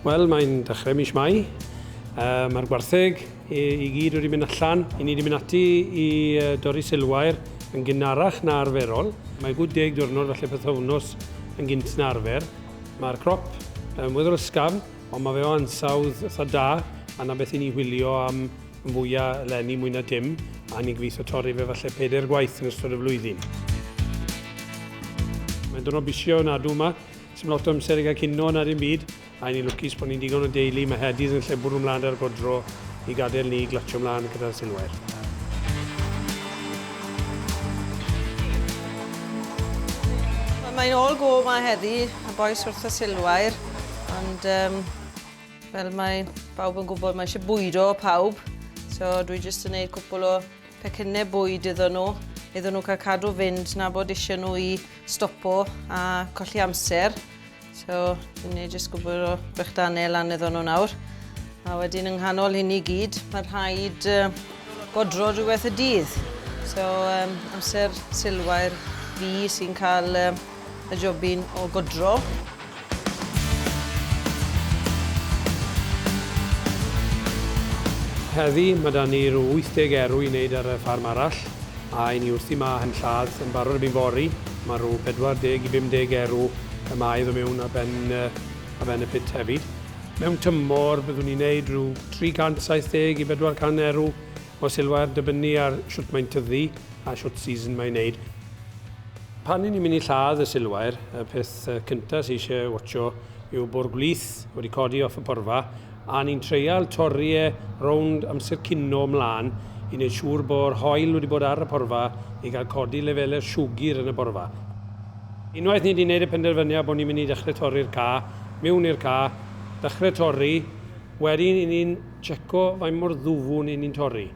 Wel, mae'n dechrau mis Mai. Uh, Mae'r gwartheg i, i gyd wedi mynd allan. I ni wedi mynd ati i uh, dorri silwair yn gynharach na arferol. Mae gwyd deg diwrnod falle peth wythnos yn gynt na arfer. Mae'r crop yn weddol ysgafn, ond mae fe o ansawdd eitha da, a na beth i ni wylio am yn fwyaf eleni mwy na dim, a ni'n gobeithio torri fe falle pedair gwaith yn ystod y flwyddyn. Mae'n dwrnod busio nadw yma, sy'n lot o amser i gael cino na dim byd, a ni'n lwcus bod ni'n digon o deulu, mae Hedydd yn lle bwrw mlaen ar godro, i gadael ni glatsio mlaen gyda'r silwair. Mae'n all go ma heddi, y bois wrth y silwair, ond um, fel mae pawb yn gwybod mae eisiau bwydo pawb, so dwi jyst yn gwneud cwpl o pecynnau bwyd iddyn nhw, iddyn nhw cael cadw fynd na bod eisiau nhw i stopo a colli amser. So, dyn ni jyst gwybod o brechdanau lan iddyn nhw nawr. A wedyn yng nghanol hyn i gyd, mae rhaid uh, godro rhywbeth y dydd. So, um, amser sylwair fi sy'n cael um, y jobyn o godro. Heddi mae da ni'r 80 erw i wneud ar y ffarm arall. A i ni wrthi ma hen lladd yn barod erbyn fory, ma rw 40 i 50 erw y mae iddo mewn ar ben ar ben y pit hefyd. Mewn tymor byddwn ni'n neud rhyw 370 i 400 erw o silwair dybynnu ar shwt mae'n tyddu a shwt season mae'n neud. Pan i ni'n mynd i lladd y silwair y peth cynta sy eisiau watsio yw bo'r gwlith wedi codi off y porfa A ni'n treial torri e rownd amser cino 'mlan i neud siŵr bo'r hoyl wedi bod ar y porfa i gael codi lefelau'r siwgr yn y borfa. Unwaith ni 'di neud y penderfyniad bo' ni'n mynd i dechre torri'r ca, miwn i'r ca, dechre torri, wedyn 'yn ni'n tseco faint mor ddwfwn 'yn ni'n torri.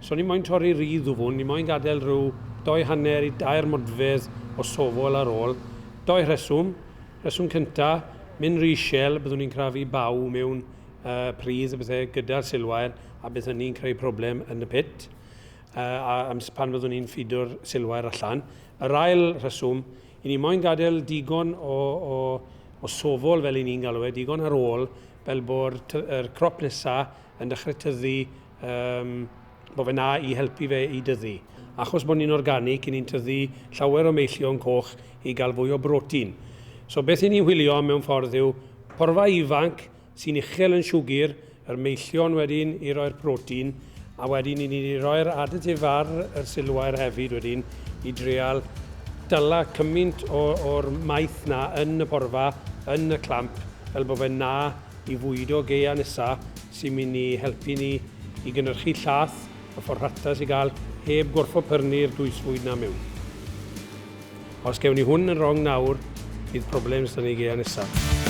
So ni moyn torri ry ddwfwn, ni moyn gadel ryw dou hanner i dair modfedd o sofl ar ôl. Dou rheswm. Rheswm cynta, Myn Rhyshell, byddwn ni'n crafu baw mewn uh, pridd a bethau gyda'r silwair a bydd hynny'n creu problem yn y pit uh, a, a pan fyddwn ni'n ffido'r silwair allan. Yr ail rheswm, i ni moyn gadael digon o, o, o sofol fel i ni'n galw e, digon ar ôl fel bod y crop nesaf yn dechrau tyddu um, Mae fe'n dda i helpu fe i dyfu. Achos bod ni'n organic, 'yn ni'n tyfu llawer o meillion coch i gael fwy o brotein. So beth 'yn ni'n wylio am mewn ffordd yw porfa ifanc sy'n uchel yn siwgr, yr meillion wedyn i roi'r protein, a wedyn 'yn ni 'di roi'r additive ar yr silwair hefyd wedyn i drial dala cymint o o'r maeth 'na yn y porfa, yn y clamp, fel bod fe'n dda i fwydo gaeau nesa, sy'n mynd i helpu ni i gynhyrchu llath y ffordd rhattas i gael heb gorfod pyrnu'r dwysfwyd 'na mewn. Os gewn ni hwn yn rong nawr, bydd problems 'da ni gea nesaf.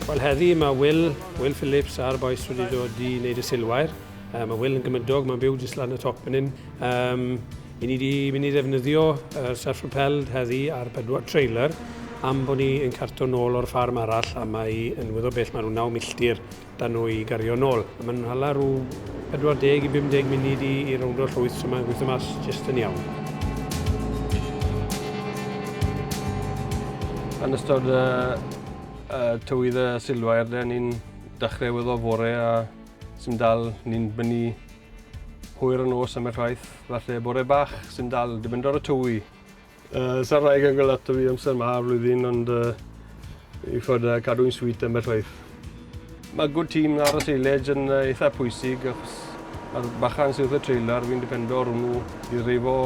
Wel heddi mae Wil Will Phillips a'r bois wedi dod i wneud y silwair. Um, mae Will yn gymydog, mae'n byw jyst lan y top yn un. Um, i ni wedi mynd i ddefnyddio uh, self-propelled heddi ar bedwar trailer am bod ni yn carto nôl o'r ffarm arall a mae yn wyddo bell mae rhyw 9 milltir da nhw i gario nôl. A mae'n hala rhyw 40 i 50 munud i, i rownd o'r llwyth, so mae'n gweithio mas jyst yn iawn. Yn ystod uh, Tywydd y silwair de, ni'n dechrau wyddo fore a sy'n dal ni'n bynu hwyr y nos am eich rhaith. Falle bore bach sy'n dal, dibyndu ar y tywy. Uh, Sa'r rhaeg yn gael ato fi amser ma ar flwyddyn, ond uh, i fod uh, cadw'n swyt am eich rhaith. Mae good team ar y seilage yn uh, eitha pwysig, achos mae'r bachan sydd wrth y trailer, fi'n dipendo ar hwnnw i ddreifo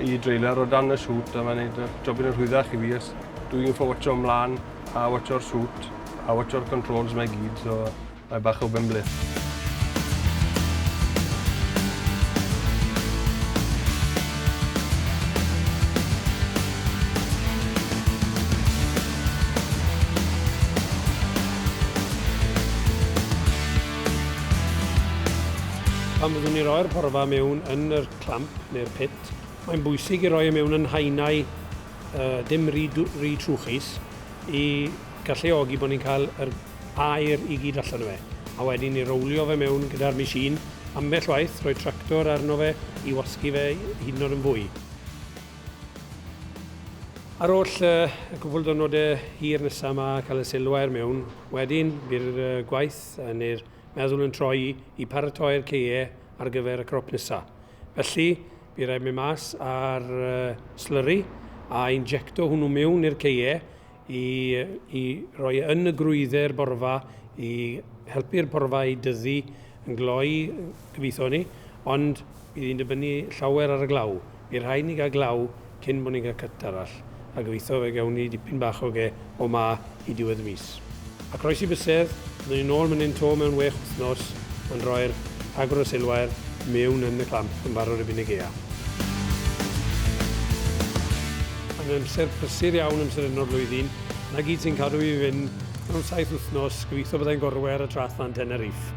i drailer o dan y siwt, a mae'n gwneud jobyn yn rhwyddach i fi, os dwi'n ffawtio ymlaen. A watsio'r sŵt, a watsio'r controls 'ma i gyd, so mae bach o benbleth. Pan fyddwn ni'n rhoi'r porfa mewn yn yr clamp neu'r pit, mae'n bwysig i roi e mewn yn haenau a dim rhy rhy trwchus i galluogi bod ni'n cael yr aer i gyd allan o fe. A wedyn i rowlio fe mewn gyda'r machine, ambell waith rhoi tractor arno fe i wasgu fe hyd yn oed yn fwy. Ar ôl y cwpl dwrnode hir nesa ma cael y silwair mewn, wedyn by'r gwaith neu'r meddwl yn troi i paratoi'r ceie ar gyfer y crop nesa. Felly, Bydd rhaid mynd mas ar slurry a injecto hwnnw mewn i'r ceie i, i roi e yn y grwydder borfa i helpu'r porfa i dyddu yn gloi, gobeithio ni, ond bydd hi'n dibynnu llawer ar y glaw. Bydd rhaid ni gael glaw cyn bod ni'n cael cyt arall. a gobeithio fe gawn ni dipyn bach o ge o 'ma i diwedd y mis. A croesi bysedd, byddwn ni nôl mynnyn 'to mewn wech wythnos, yn rhoi'r agwr o seilwair mewn yn y clamp yn barod erbyn y gaeaf. Mae'n amser prysur iawn amser hyn o'r flwyddyn, 'na gyd sy'n cadw i fynd, mewn saith wythnos, gobeithio byddai'n gorwedd ar y traeth lan Tenerife.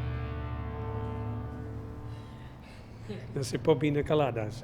Yn sipo bin y Caladas.